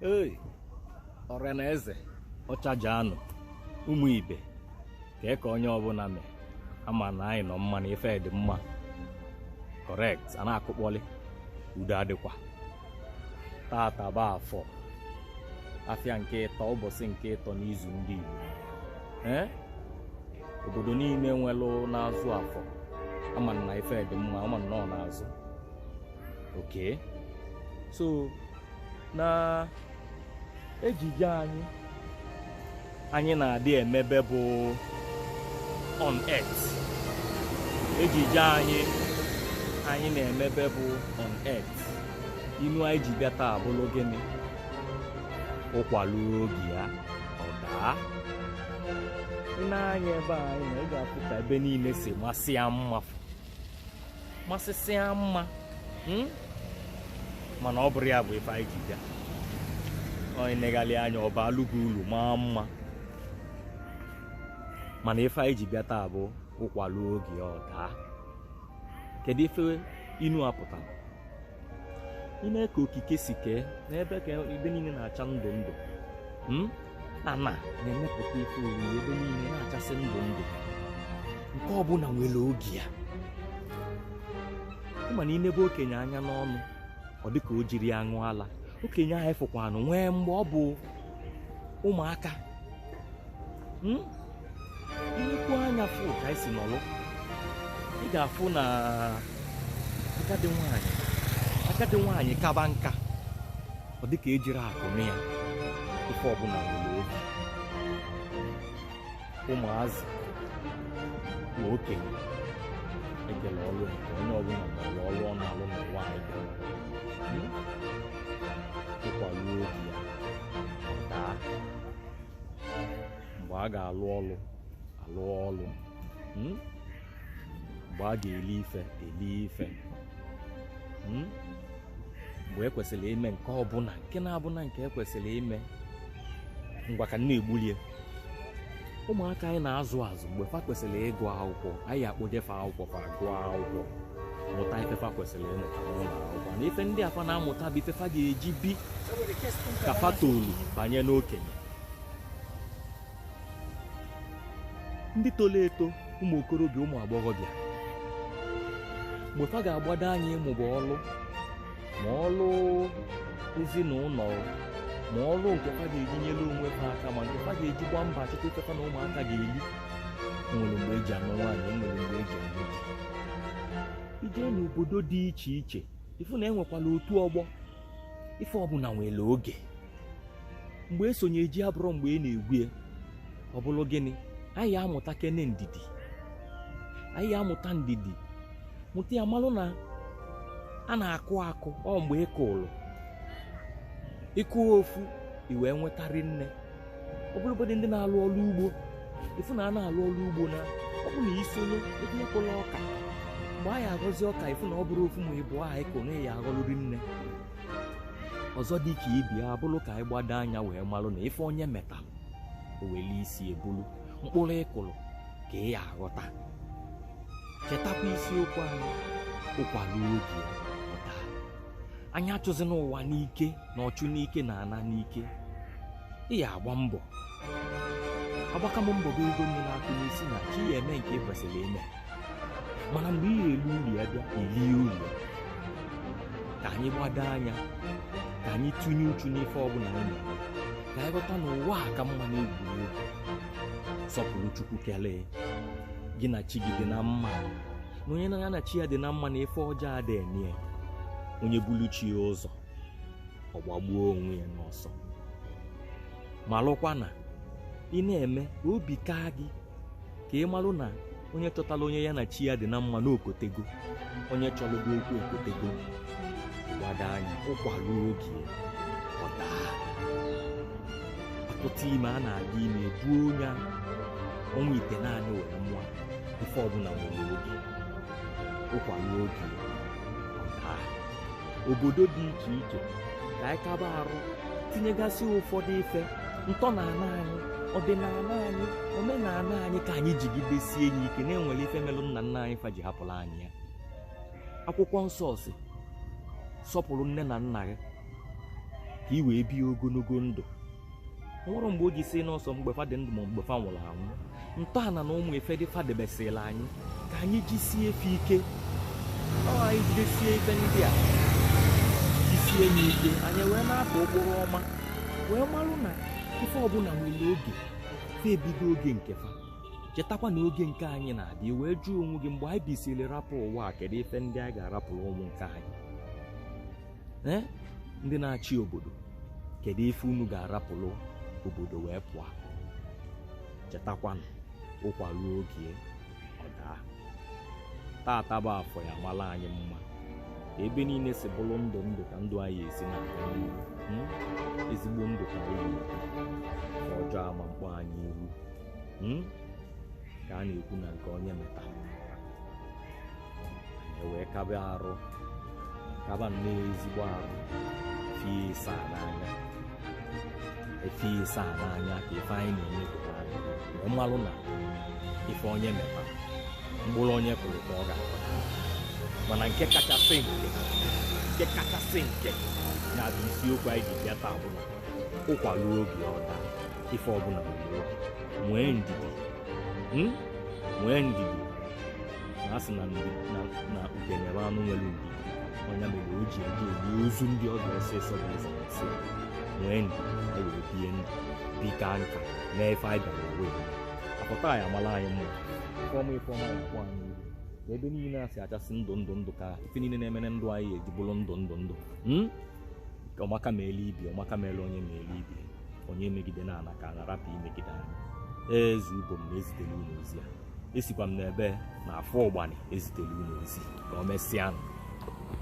Hey, ọra na eze ọchaja anụ ụmụ ibe kee ka onye ọbụna mee ama m na anyị nọ mma na ife dị mma correct a na-akụkpọlị udo adịkwa tata bụ afọ afịa nke ịtọ ụbọsị nke ịtọ n'izu ndị Igbo ee obodo niine nwelụ na-azụ afọ ama m na ife dị mma ama m na ọ na-azụ okay so na ejije anyị anyị na-adị emebe bụ on earth ejije anyị anyị na-emebe bụ on earth inu anyị ji bịa taa abụlụ gịnị ụkwa luo oge ya ọ daa i nee anya ebe a anyị nọ ị ga-afụ ka ebe niile si masịa mma masịsịa mma hmm? mana ọ bụrọ ya bụ ife anyị ji bịa onye negalịa anya ọ baalụ gị ulu maa mma mana ife anyị ji bịa taa bụ ụkwa luo oge ọ daa kedu ife inu a pụtara i nee ka okike si kee nebe ka ebe niine na-acha ndụ ndụ hmm? ana na-emepụta ife oriri ebe niine na-achasị ndụ ndụ nke ọbụna nwelu oge ya ị ma na i nebe okenye anya n'ọnụ ọ dịka o jirọ ya ṅụ ala okenye a ị fụkwanụ nwee mgbe ọ bụ ụmụaka Hmm? i nekwuo anya fụ ka anyị si nọlụ ị ga-afụ na agadi nwaanyị agadi nwaanyị kaba nka ọ dị ka ejirọ akụ nụ ya ife ọbụna nwelu oge ụmụazị na okenye e kelu ọlụ nke onye ọbụna maalụ ọlụ ọ na-alụ n'ụwa anyị hmm? ụkwa luo oge ya ọ daa mgbe a ga-alụ ọlụ alụ ọlụ hmm? mgbe a ga-eli ife eli ife hmm? mgbe e kwesịlị ime nke ọbụna nke na-abụna nke e kwesịlị ime ngwa ka nna egbulie ụmụaka anyị na-azụ azụ mgbe fa kwesịlị ịgụ akwụkwọ anyị akpọje fa akwụkwọ fa gụọ akwụkwọ mụta ife fa kwesịlị ịmụta n'ụlọ akwụkwọ na ife ndị a fa na-amụta bụ ife fa ga-eji bi ka fa tolu banye n'okenye ndị tolu eto ụmụ okorobịa ụmụ agbọghọbịa mgbe fa ga-agbado anya ịmụba ọlụ ma ọrụ ezinụlọ ma ọrụ nke fa ga-eji nyere onwe fa aka ma nke fa ga-eji gba mbọ chọta ife fa na ụmụaka ga-eli nwere mgbe eji anụ nwaanyị enwere mgbe eji anụ di i jee n'obodo dị iche iche ị fụ na e nwekwalụ otu ọgbọ ife ọbụla nwere oge mgbe e sonye ji abụrọ mgbe a na-egwu ya ọ bụrụ gịnị anyị ya amụtakene ndidi anyị ya amụta ndidi mụta ya malụ na a na-akụ akụ ọ mgbe ị kụrụ ị kụ ofu i wee nweta rinne ọ bụrụgodị ndị na-alụ ọrụ ugbo ị fụ na a na-alụ ọrụ ugbo na ọ bụ na i sonye etinye mkpụlụ ọka mgbe a ya aghọzi ọka ị fụ na ọ bụrọ ofu ma ịbụa ahụ ị kụ na ị ya aghọlụ rinne ọzọ dị ka ibe ya abụrụ ka anyị gbado anya wee malụ na ife onye metalụ o welu isi bulu mkpụrụ ị kụrụ ka ị ya aghọta chetakwa isiokwu anyị ụkwa ruo oge ọ daa anyị achụzina ụwa n'ike na ọchụ n'ike na-ana n'ike ị ya agba mbọ agbaka m mbọ bụ ego nni na akụ na-esi na chi ị ya eme nke ị kwesịrị ime mana mgbe ị ga-eli ulu ya bịa i lie ulu ya. ka anyị gbado anya ka anyị tinye uchu n'ife ọbụla anyị na-eme ka anyị ghọta na ụwa a ka mma n'egwuregwu sọpụrụ chukwu kelee gị na chi gị dị na mma na onye na ya na chi ya dị na mma na ife ọjọọ adị eme ya onye bulu chi ya ụzọ ọ gbagbuo onwe ya n'ọsọ malụkwa na ị na-eme ka obi kaa gị ka ị malụ na onye chọtara onye ya na chi ya dị na mma na o kotego onye chọrọ gị okwu o kotego gbado anya ụkwa ruo oge ọ daa a tụta ime a na-aga ime buo onye ahụ ọnwa itenaanị wee mụọ nwa ife ọbụla nwere oge ụkwa ruo oge obodo dị iche iche ka anyị kaba arụ tinyegasị ụfọdụ ife ntọala anyị ọdịnala anyị omenala anyị ka anyị jigidesie ya ike na e nwere ife melụ nna nna anyị fa ji hapụrụ anyị ya akwụkwọ nsọ sị sọpụrụ nne na nna gị ka ị wee bie ogologo ndụ nwerọ mgbe o ji sị na ọ sọ mgbe fa dị ndụ ma mgbe fa nwụrụ anwụ ntọala na ụmụ ife ndị fa debesịrị anyị ka anyị jisie fa ike anyị jidesie ife ndị a jisie ya ike anyị wee na-atụ ụkpụrụ ọma wee marụ na ife ọbụla nwere oge fa ebigo oge nke fa chetakwa na oge nke anyị na-adị wee jụọ onwe gị mgbe anyị bisịrị rapụ ụwa a kedu ife ndị anyị ga-arapụrụ ụmụ nke anyị ee ndị na-achị obodo kedu ife unu ga-arapụrụ obodo wee pụọ chetakwanụ ụkwa ruo oge ọ daa tata bụ afọ ya mara anyị mma ka ebe niile si bụrụ ndụ ndụ ka ndụ anyị esi na-aga n'ihu Hmm? ezigbo ndụ ka anyị nwere nke ọjọọ ama mkpọ anyị ihu Hmm? ka a na-ekwu na nke onye metara anyị wee kaba arụ kaba nnọọ ezigbo arụ fie ịsaa n'anya efie ịsaa n'anya ka ife anyị na-emepụta anyị wee mmalụ na ife onye meta mkpụrụ onye kụrụ ka ọ ga-aghọ mana nke kachasị nke nke kachasị nke na-abụ isiokwu anyị ji bịa taa bụ na ụkwa ruo oge ọ daa ife ọbụla nwee ndidi nwee ndidi na a sị na ndị na na udene bụ anụ nwere ndidi ọ ya mere o ji eri ime ozu ndị ọbịa ọsịsọ bụ eze nsị nwee ndidi e wee bie ndụ bika nka mee ife anyị bịara ewe apụta anyị amala anyị mma ifeọma ifeọma ya akpọ anyị ihu na ebe niile a si achasị ndụ ndụ ndụ ka ife niile na-emere ndụ anyị eji bụrụ ndụ ndụ ndụ mm? Ka ọmaka ma ele ibi ọmaka ma ele onye ma ele ibi onye megide na ana ka a na-arapụ imegide anyị eze ubom na-ezitere unu ozi a esikwa m n'ebe na afọ ụgbanị ezitere unu ozi ka o mesịa